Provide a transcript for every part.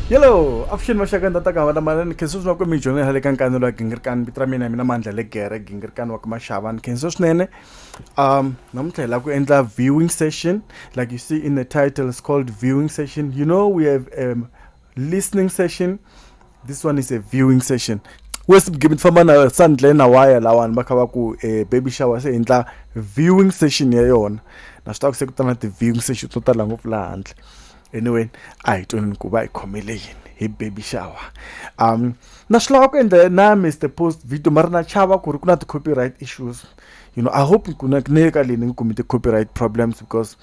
hello avuxeni vaxakanda ta kava lamanene khenso swinene kwemi dyondzo ya le ka nkani lowa gingirikani vito ra mina hi mina mandla le gere gingirikani wa ka maxavani khenso swinene um namuntlha hi lava ku endla viewing session like you see in the title is called viewing session you know we have um, listening session this one is a viewing session wesibugibini famba na sandle na waya lawani va kha va ku um baby shower se endla viewing session ya yona na swi tiva ku se ku ta na ti-viewing session to tala ngopfu laha handle anyway a hi tweni ku va hi khomele yini hi baby shower um na swi lava ku endla na mr post video mara na chava ku ri ku na ti-copyright issues you know i hope ku na ni le ka leyi ni nge kumi ti-copyright problems because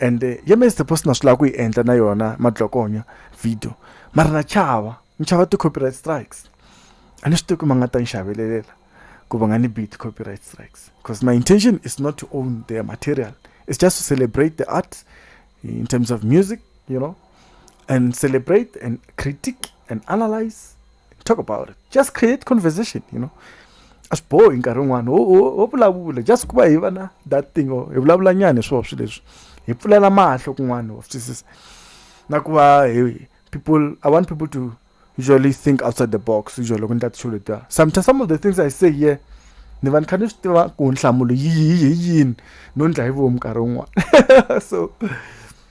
and eh, ya mr post na swi lava ku yi endla na yona madlokonya video mara na chava ni chava ti-copyright strikes a ni swi tivi ku ma nga ta ni xavelelela ku va nga ni beat copyright strikes because my intention is not to own their material it's just to celebrate the art in terms of music you know and celebrate and critique and analyze talk about it just create conversation you know a swi bohi nkarhi wun'wana ho vulavula just ku va hi va na that thing or hi vulavula nyana hi swona swilo leswi hi pfulela mahlo kun'wana wa twisisa na ku va hi people i want people to usually think outside the box usually loko ni ta tixo letiya sometimes some of the things i say here ni va ni kha ni swi tiva ku nhlamulo yihi hi yini no ndla hi vomu nkarhi wun'wana so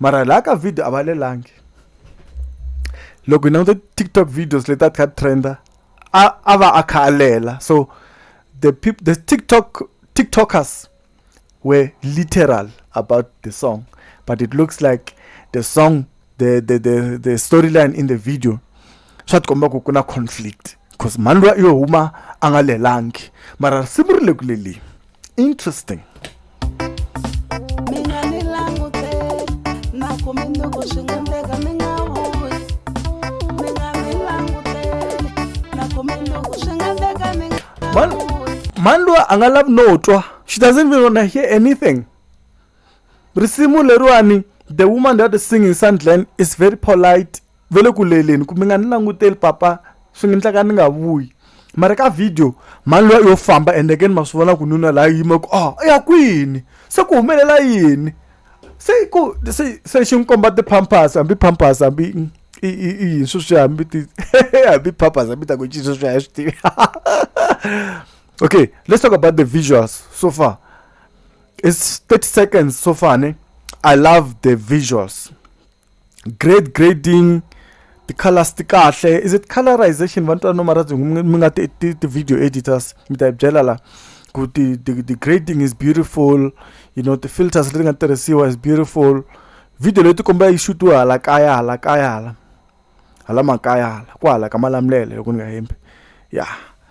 mara laha ka video a va lelangi loko hi languta tiktok videos leti a ti kha ti trenda a a va a kha a lela so the people the tiktok tiktokers were literal about the song but it looks like the song the the the, the storyline in the video swa tikomba ku ku na conflict because mhani loyi yo huma a nga lelangi mara risimu ri le ku leleni interesting mina ni langute na ku minduku swi nga ndeka mi nga vuyi mina ni langutele na ku minduku swi nga ndeka mi nga Man, vuyi man loyi a nga lavi no twa she doesn't even wanna hear anything risimu leriwani the woman that is singing sandland is very polite va le ku leleni ku mi nga ni languteli papa swi nga endleka ni nga vuyi mara ka video mhani luya yo famba ende ke ni ma swi vona ku nuna laha yima ku a ya kwini se ku humelela yini se ku se se xi n'wi komba ti-pampers hambi pampers hambi i i i yini sweswi hambi ti hambi pampers hambi ta ku cinca sweswi a hi swi tivi okay let's talk about the visuals so far it's 30 seconds so far ne i love the visuals grade grading ti-colours ti kahle is it colorization va ni twa no mara byi mi nga ti ti ti-video editors mi ta hi byela la ku ti ti ti grading is beautiful you know ti-filters leti nga tirhisiwa is beautiful video leyi ti komba yi shutiwe hala kaya hala kaya hala hala makaya hala ku hala ka malamulele loko ni nga hembi ya.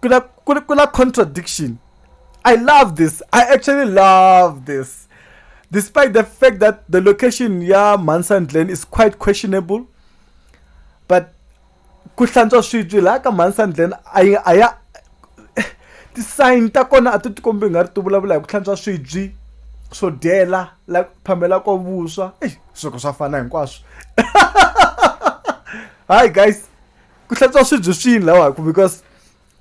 kuna kuna kuna contradiction i love this i actually love this despite the fact that the location ya manson glen is quite questionable but ku hlantswa swibyi laha ka manson glen a yi a ya ti-sign ta kona a ti tikombi nga ri ti vulavula hi ku hlantswa swibyi swo dyela la phamela ko vuswa eyi swilo swa fana hinkwaswo hayi guys ku hlantswa swibyi swini lawa ku because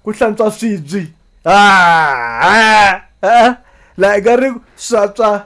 ku hlantswa swibyi ah, ah, laha ka ri swatswa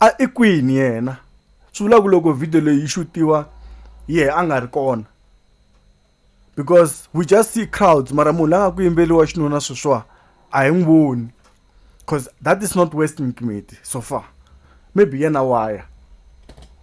a i kwini yena swi vula ku loko video leyi yi xuxiwa yehe a nga ri kona because we just see crowds mara munhu la nga ku yimbeleriwa xinuna sweswiwa a hi n'wi voni cause that is not western community so far maybe yena waya.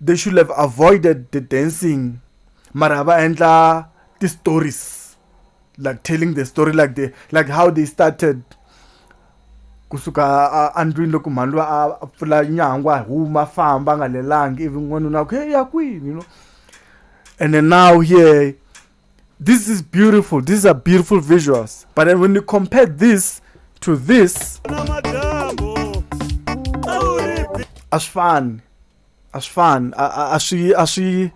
They should have avoided the dancing mara va endla ti stories like telling the story like the like how they started kusuka andlwini loko mhani loyi a pfula nyangwa huma famba nga lelangi ivi n'wanuna ku ya kwini you know and then now here this is beautiful these are beautiful visuals but then when you compare this to this a swi fani a swi fani a a a swi a swi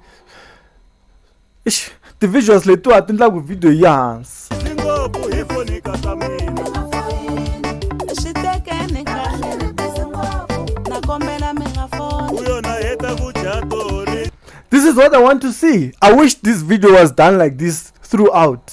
ixi ti-visuals letiwa ti endlaku video yi hansi ngopfu hi vonika ta mina swi tekeni kahle na kombela mi nga fona u yona heta ku dya tori this is what i want to see i wish this video was done like this throughout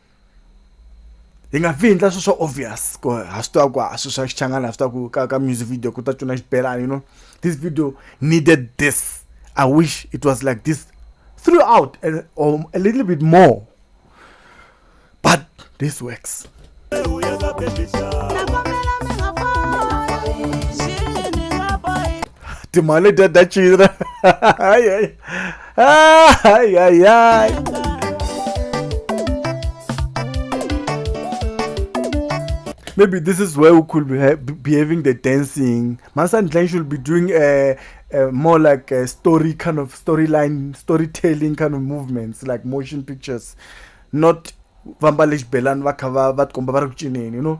hi nga vi endla swilo swa obvious ku ha swi tiva ku a swilo swa xichangana ha swi tiva ku ka ka music video ku ta cuna xibelani you know this video needed this i wish it was like this throughout and or a little bit more but this works timali letiya ta cina hayi hayi hayi hayi hayi maybe this is where we could be ha- be having the dancing. Masan Glenn should be doing a, a more like a story kind of storyline, storytelling kind of movements, like motion pictures, not vamba lexibelani va kha va va tikomba va ri ku cineni you know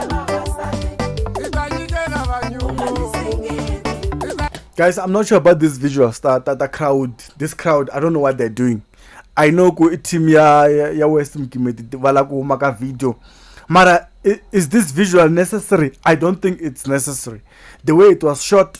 guys i'm not sure about this visual star that the crowd this crowd i don't know what they're doing i know ku team ya ya west mkimeti vala ku huma ka video mara is this visual necessary i don't think it's necessary the way it was shot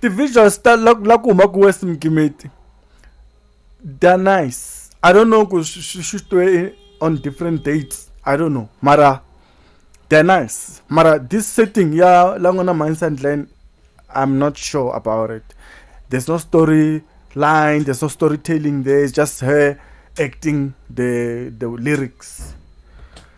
ti-visuals ta la la ku huma ku west mgimeti they're nice i don't know ku swi swi xutwe on different dates i don't know mara they're nice mara this setting ya la n'wana mines and land i'm not sure about it there's no story line there's no storytelling there it's just her acting the the lyrics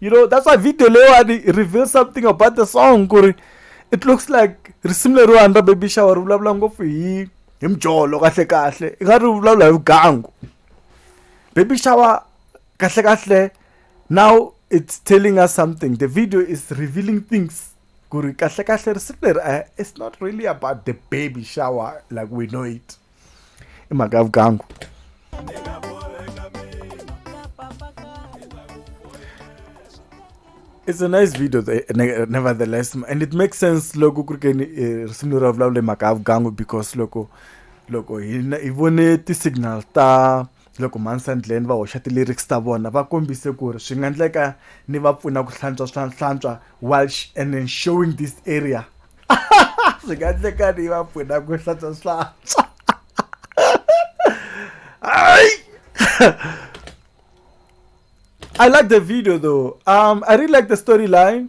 you know that's why video leyiwani reveal something about the song ku ri it looks like risimu leriwani ra baby shower ri vulavula ngopfu hi hi mjolo kahle kahle i nga ri vulavula hi vugangu baby shower kahle kahle now it's telling us something the video is revealing things ku ri kahle kahle risimu leri eh, it's not really about the baby shower like we know it i mhaka ya vugangu It's a nice video eh, eh, nevertheless and it makes sense loko ku ri keni eh, risimu leri ra vulavula hi mhaka ya vugangu because loko loko hi hi vone ti-signal ta loko mhani sandleni va hoxa ti-lyrics ta vona va kombise ku ri swi nga endleka ni va pfuna ku hlantswa swa hlantswa welsh and then showing this area swi nga endleka ni va pfuna ku hlantswa swantswa I like the video though. Um, I really like the storyline.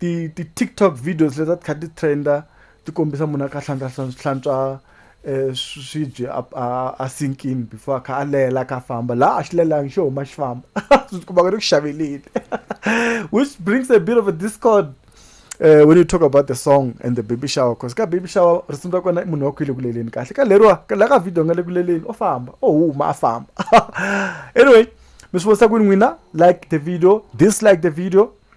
ti ti TikTok videos leti a ti kha ti trend-a ti kombisa munhu a kha a hlantswa hlantswa hlantswa um swibye a a a sink-ini before a kha a lela a kha a famba laha a xi lelanga xo huma xi famba u ti kuma ku ri ku xaveleni which brings a bit of a discord um when you talk about the song and the baby shower cause ka baby shower risimu ra kona i munhu wa ku i le ku leleni kahle ka leriwa ka la ka video nga le ku leleni o famba o huma a famba anyway mi swi vonisa ku yini n'wina like the video dislike the video